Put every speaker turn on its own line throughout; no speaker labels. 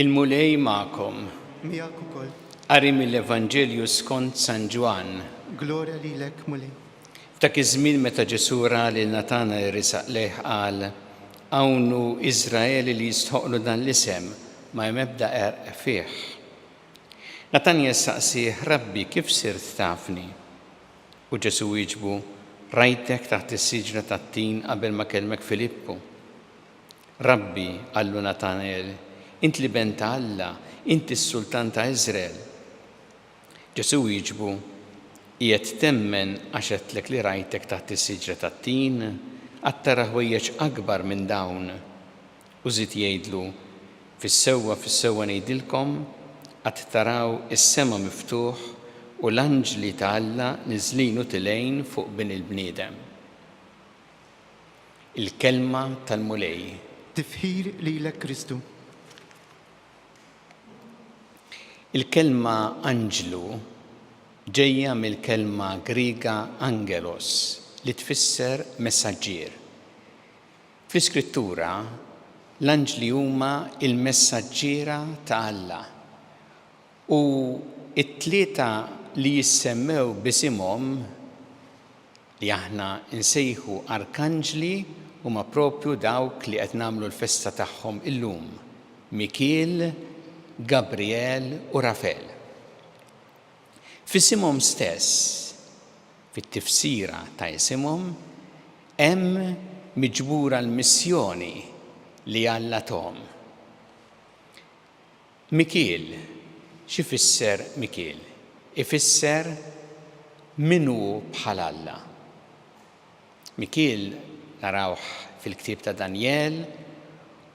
Il-Mulej magħkom. Miegħek ukoll.
Qari mill-Evanġelju
skont San Ġwann. Glorja lilek,
Mulej. F'dak iż-żmien
meta Ġesù ra lil Natanael resaq lejh qal, Hawn hu Iżrael li jistħoqqlu dan l-isem, ma hemm ebda qerq fih. Natanael staqsieh, Rabbi, kif sirt tafni? U Ġesù wieġbu, Rajtek taħt is-siġra tat-tin qabel ma kellmek Filippu. Rabbi, qallu Natanael, int l-Iben ta' Alla, int is-Sultan ta' Iżrael. Ġesù wieġbu, Qiegħed temmen għax għedtlek li rajtek taħt is-siġra tat-tin? Għad tara ħwejjeġ akbar minn dawn. U żied jgħidlu, Fis-sewwa, fis-sewwa ngħidilkom, Għad taraw is-sema miftuħ u l-anġli ta' Alla niżlin u tilgħin fuq Bin il-bniedem. Il-Kelma tal-Mulej. Tifħir
lilek Kristu.
Il-kelma anġlu ġejja mill-kelma Griega angelos li tfisser messaġġier. Fl-Iskrittura, l-anġli huma l-messaġġiera ta' Alla, u t-tlieta li jissemmew b'isimhom, li aħna nsejħu arkanġli huma proprju dawk li qed nagħmlu l-festa tagħhom illum, Mikiel, Gabrijel u Rafel. F'isimhom stess, fit-tifsira ta' isimhom, hemm miġbura l-missjoni li Alla tahom. Mikiel, X'ifisser Mikiel? Ifisser Min hu bħal Alla? Mikiel narawh fil-ktieb ta' Danjel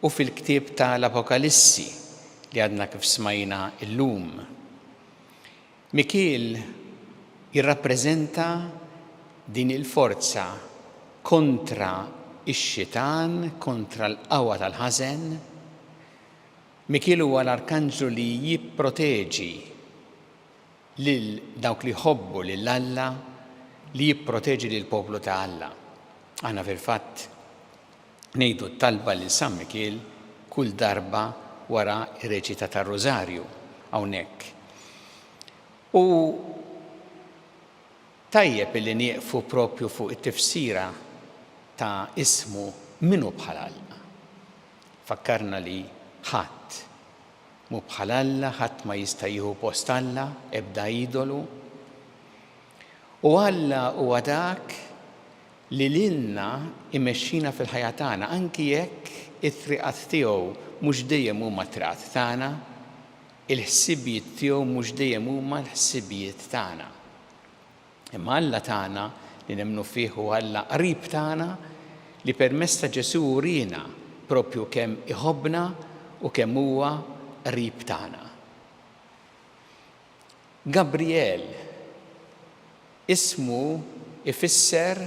u fil-ktieb ta' l-Apokalissi li għadna kif smajna illum. Mikiel jirrappreżenta din il-forza kontra x-xitan, kontra l-qawwa tal-ħażen, Mikiel huwa l-arkanġlu li jipproteġi lil dawk li jħobbu lil Alla, li jipproteġi lill-poplu ta' Alla. Aħna fil-fatt ngħidu t-talba lil San Mikiel kull darba wara r-reċita tar-Rużarju hawnhekk. U tajjeb illi nieqfu proprju fuq it-tifsira ta' ismu min hu bħal Alla. Fakkarna li ħadd mhu bħal Alla, ħadd ma jista' jieħu post Alla, ebda idolu. U Alla huwa dak li lilna imexxina fil-ħajja tagħna anki jekk it-triqat tiegħu mhux dejjem huma t-triqat tagħna, il-ħsibijiet tiegħu mhux dejjem huma l-ħsibijiet tagħna. Imma Alla tagħna li nemmnu fih hu Alla qrib tagħna li permezz ta' Ġesù uriena proprju kemm iħobbna u kemm huwa qrib tagħna. Gabrijel ismu ifisser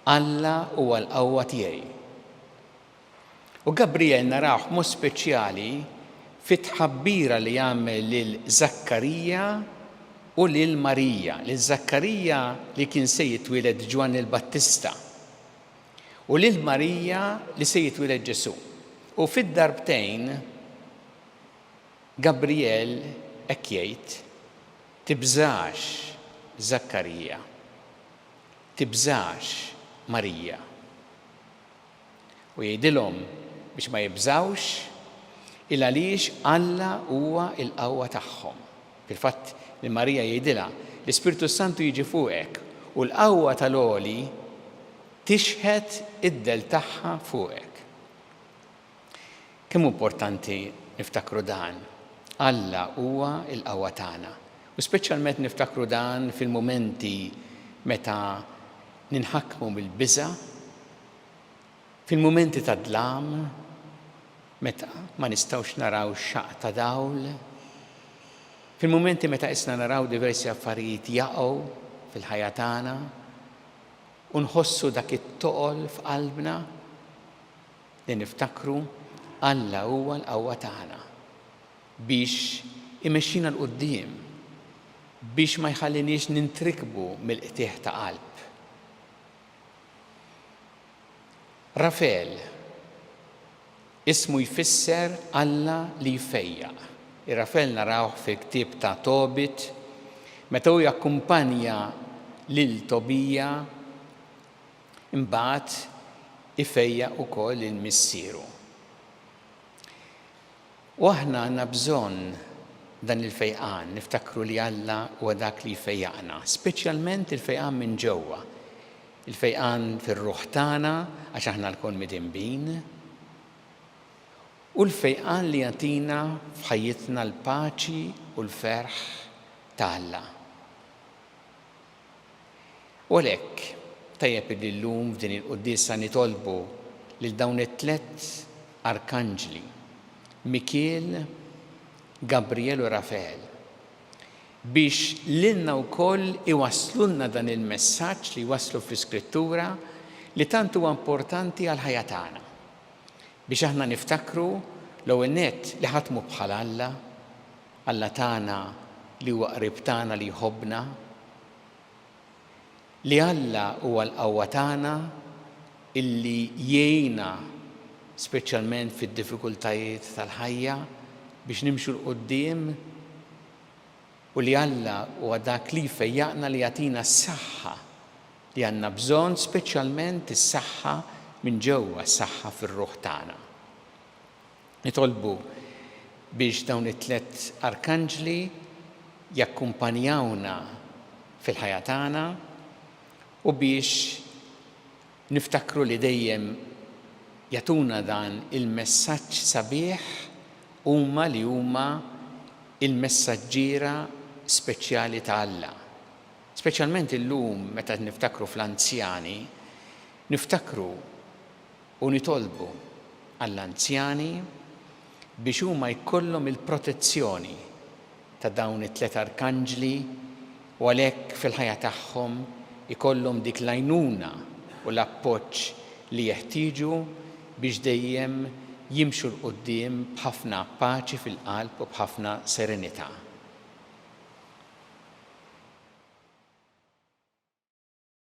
Alla huwa l-qawwa tiegħi. U Gabrijel narawh b'mod speċjali fit-tħabbira li jagħmel lil Żakkarija u lil Marija, lil Żakkarija li kien se jitwieled Ġwanni l-Battista u lil Marija li se jitwieled Ġesù. U fid-darbtejn Gabrijel hekk jgħid, Tibżax, Żakkarija. Tibżax, Marija. u jgħidilhom biex ma jibżgħux, 'il għaliex Alla huwa l-qawwa tagħhom. Fil-fatt, lil Marija jgħidilha, 'L-Ispirtu s-Santu jiġi fuqek, u l-qawwa tal-Għoli tixħet id-dell tagħha fuqek. Kemm hu importanti niftakru dan! Alla huwa l-qawwa tagħna, u speċjalment niftakru dan fil-mumenti meta ninħakmu mill-biża', Fil-mumenti ta' dlam, meta ma nistgħux naraw xaqq ta' dawl, fil-mumenti meta qisna naraw diversi affarijiet jaqgħu fil-ħajja tagħna u nħossu dak it-toqol f'qalbna, li niftakru Alla huwa l-qawwa tagħna biex imexxina 'l quddiem, biex ma jħalliniex nintrikbu mill-qtigħ ta' qalb. Rafel, ismu jfisser Alla li jfejjaq. Ir-Rafel narawh fil-ktieb ta' Tobit meta hu jakkumpanja lil Tobija imbagħad ifejjaq ukoll lil missieru. U aħna għandna bżonn dan il-fejqan, niftakru li Alla huwa dak li jfejjaqna, speċjalment il-fejqan minn ġewwa, il-fejqan fir-ruħ tagħna għax aħna lkoll midinbin, u l-fejqan li jagħtina f'ħajjitna l-paċi u l-ferħ ta' Alla. U għalhekk, tajjeb illi llum f'din il-Quddiesa nitolbu lil dawn it-tliet Arkanġli, Mikiel, Gabrijel u Rafael, biex lilna wkoll iwasslulna dan il-messaġġ li jwasslu fl-Iskrittura li tant huwa importanti għall-ħajja tagħna, biex aħna niftakru l-ewwel nett li ħadd mhu bħal Alla, Alla tagħna li huwa qrib tagħna li jħobbna, li Alla huwa l-qawwa tagħna illi jgħinna speċjalment fid-diffikultajiet tal-ħajja biex nimxu 'l quddiem u li Alla huwa dak li jfejjaqna li jagħtina s-saħħa li għandna bżonn speċjalment is-saħħa minn ġewwa s-saħħa fir-ruħ tagħna. Nitolbu biex dawn it-tliet arkanġli jakkumpanjawna fil-ħajja tagħna u biex niftakru li dejjem jagħtuna dan il-messaġġ sabiħ huma li huma l-messaġġiera speċjali ta' Alla. Speċjalment illum meta niftakru fl-anzjani, niftakru u nitolbu għall-anzjani biex huma jkollhom il-protezzjoni ta' dawn it-tliet arkanġli u għalhekk fil-ħajja tagħhom ikollhom dik l-għajnuna u l-appoġġ li jeħtieġu biex dejjem jimxu 'l quddiem b'ħafna paċi fil-qalb u b'ħafna serenità.